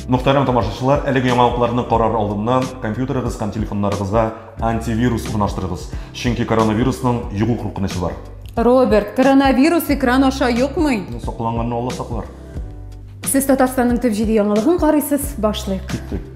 Мөхтәрәм тамашачылар, әлеге яңалыкларны карар алдыннан компьютерыгыз һәм телефоннарыгызга антивирус урнаштырыгыз, чөнки коронавирусның йогу куркынычы бар. Роберт, коронавирус экран аша йокмый. Ну, Сакланганны Алла саклар. Сез Татарстанның төп җиде яңалыгын карыйсыз, башлыйк. Киттек.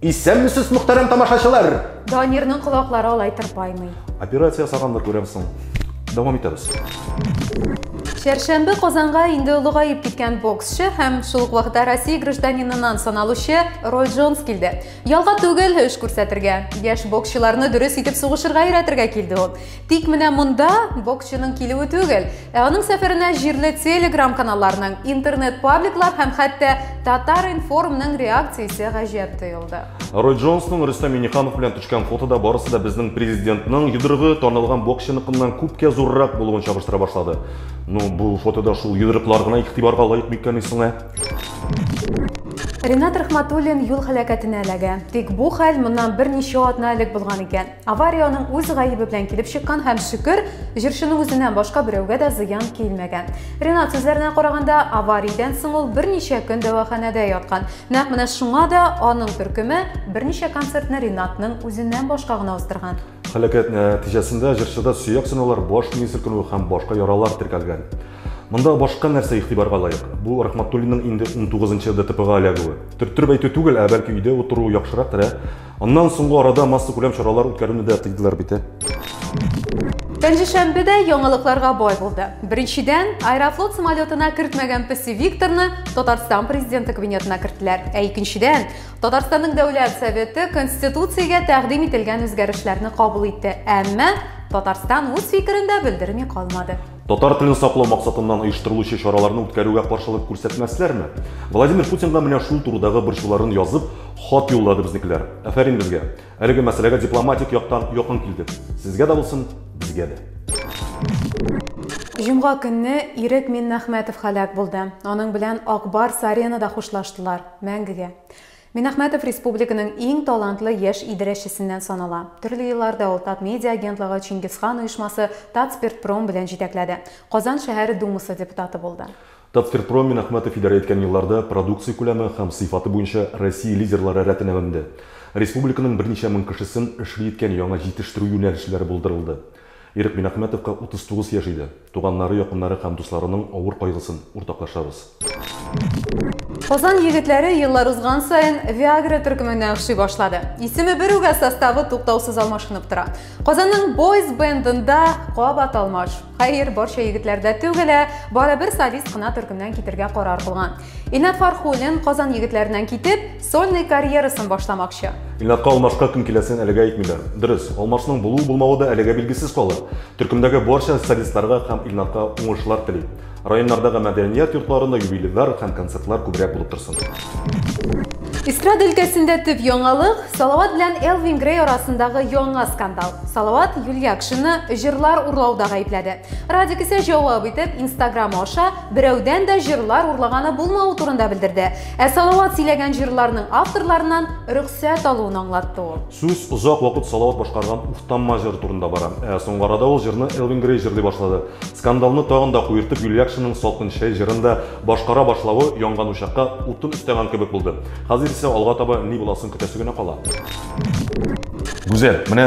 Исәнмесез, мөхтәрәм тамашачылар! Данирның колаклары алай тырпаймый. Операция ясаганнар күрәм соң. Дәвам итәбез. Чәршәмбе Казанга инде олыгаеп киткән боксчы һәм шул ук вакытта Россия гражданинынан саналучы Рой Джонс килде. Ялга түгел, эш күрсәтергә. Яшь боксчыларны дөрес итеп сугышырга өйрәтергә килде ул. Тик менә монда боксчының килүе түгел, ә аның сәфәренә җирле Telegram каналларның, интернет-пабликлар һәм хәтта Татар-информның реакциясе гаҗәп тоелды. Рой Джонсның Рөстәм Миңнеханов белән төшкән фотода барысы да безнең президентның йодрыгы танылган боксчыныкыннан күпкә зуррак булуын чагыштыра башлады. Ну, бу фотода шул йодрыклар гына игътибарга лаек микәнни соң, ә? Ринат Рәхмәтуллин юл һәлакәтенә эләгә. Тик бу хәл моннан берничә атна элек булган икән. Авария аның үз гаебе белән килеп чыккан һәм шөкер, җырчының үзеннән башка берәүгә дә зыян килмәгән. Ренат сүзләренә караганда, авариядән соң ул берничә көн дәваханәдә яткан. Нәкъ менә шуңа да аның төркеме берничә концертны Ренатның үзеннән башка гына уздырган. Һәлакәт нәтиҗәсендә җырчыда сөяк сынаулар, баш мие селкенү һәм башка яралар теркәлгән. Монда башка нәрсә игътибарга лаек? Бу Рахматуллинның инде унтугызынчы ДТПга эләгүе. Төрттереп әйтү түгел, ә бәлки өйдә утыру яхшырак, терә Аннан соңгы арада массакүләм чаралар үткәрүне дә тыйдылар бит, ә? Пәнҗешәмбе дә яңалыкларга бай булды. Беренчедән, Аэрофлот самолетына кертмәгән Песи Викторны Татарстан президенты кабинетына керттеләр. Ә икенчедән, Татарстанның Дәүләт Советы Конституциягә тәкъдим ителгән үзгәрешләрне кабул итте. Әмма Татарстан үз фикерен дә белдерми калмады. Татар телен саклау максатыннан оештырылучы чараларны үткәрүгә каршылык күрсәтмәсләрме? Владимир Путинга менә шул турыдагы борчуларын язып, хат юллады безнекеләр. Афәрин безгә. Әлеге мәсьәләгә дипломатик яктан якын килдек. Сезгә дә булсын, безгә дә. Җомга көнне Ирек Миннәхмәтов һәлак булды. Аның белән Ак Барс-Аренада хушлаштылар. Мәңгегә. Минахмәтов республиканың иң талантлы яшь идарәчесеннән санала. Төрле елларда ул Татмедиа агентлыгы, Чингисхан оешмасы, Татспиртпром белән җитәкләде. Казан шәһәре Думасы депутаты булды. Татспиртпром Минахмәтов идарә иткән елларда продукция күләме һәм сыйфаты буенча Россия лидерлары рәтенә менде. Республиканың берничә мең кешесен эшли иткән яңа җитештерү юнәлешләре булдырылды. Ирек Минәхмәтовка 39 яшь иде. Туганнары, якыннары һәм дусларының авыр кайгысын уртаклашабыз. Казан егетләре еллар узган саен Виагра төркеменә охшый башлады. Исеме бер үк, ә составы туктаусыз алмашынып тора. Казанның Boys Band-ында кабат алмаш. Хәер, барча егетләр дә түгел, ә бары бер солист кына төркемнән китергә карар кылган. Илнат Фархуллин Казан егетләреннән китеп, сольный карьерасын башламакчы. Илнатка алмашка кем киләсен әлегә әйтмиләр. Дөрес, алмашның булу-булмавы да әлегә билгесез калыр. Төркемдәге барча солистларга һәм Илнатка уңышлар тели. Районнардагы мәдәният йортларында юбилейлар һәм концертлар күбрәк булып торсын. Эстрада өлкәсендә төп яңалык, Салават белән Элвин Грей арасындагы яңа скандал. Салават Юльякшинны җырлар урлауда гаепләде. Радик исә җавап итеп, Инстаграмы аша берәүдән дә җырлар урлаганы булмау турында белдерде. Ә Салават сөйләгән җырларның авторларыннан рөхсәт алуын аңлатты ул. Сүз озак вакыт Салават башкарган Уфтанма җыры турында бара. Ә соңгы арада ул җырны Элвин Грей җырлый башлады. Скандалны тагын да куертып, Юльякшинның Салкын чәй җырын да башкара башлавы янган учакка утын өстәгән кебек булды. Хәзер исә алга таба ни буласын көтәсе генә кала. Гүзәл, менә